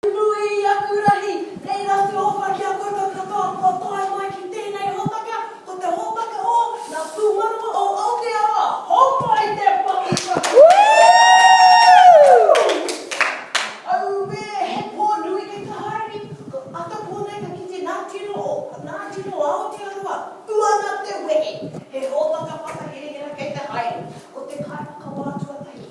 Nui i aku rahi, reira te owha ki a koutou katoa kua tae mai ki tēnei hōtaka, ko te hōtaka o ngā pūmanawa o Aotearoa, hōmai te mahi kua kite e koutou! Auē, he pō nui kei te haere, ko Atapō nei ka kite ngā tino o, ngā tino o Aotearoa, uana te wehe, he hōtaka whakaherahera kei te haere, ko te kaiwhakawā tuatahi,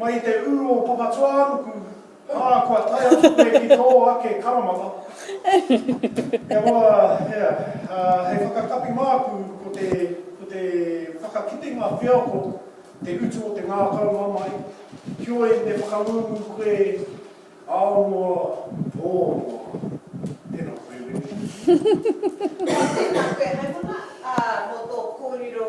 Mai i te ū o Papatūānuku, ā, kua tae atu koe ki tō ake karamata. Kia roa, hea, ā, hei whakakapi māku, ko te, ko te whakakitenga wheako te utu o te ngākau mamae, heoi me whakangungu koe ao noa, pō noa. Tēnā koe, Wendy. Tēnā koe hai mona, ā, mō tō kōrero.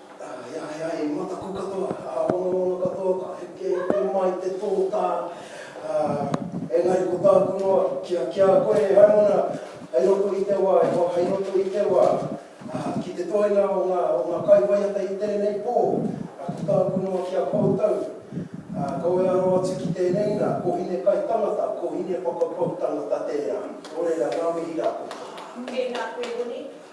Ā, he aha he mataku katoa, ā, monomono katoa, ka heke mai te tōtā, ā, engari ko tāku noa, ki a, ki a koe e Haimona, hei roto i te wā, e hoa, hei roto i te wā, ā, ki te toenga o ngā, o ngā kaiwaiata i tēnei pō, ā, ko tāku noa ki a koutou, ā, kaua e aro atu ki tēnei nā, ko Hine kai tangata, ko Hine whakapau tangata tērā. Nō reira, ngā mihi rākau. Tēnā koe Hine.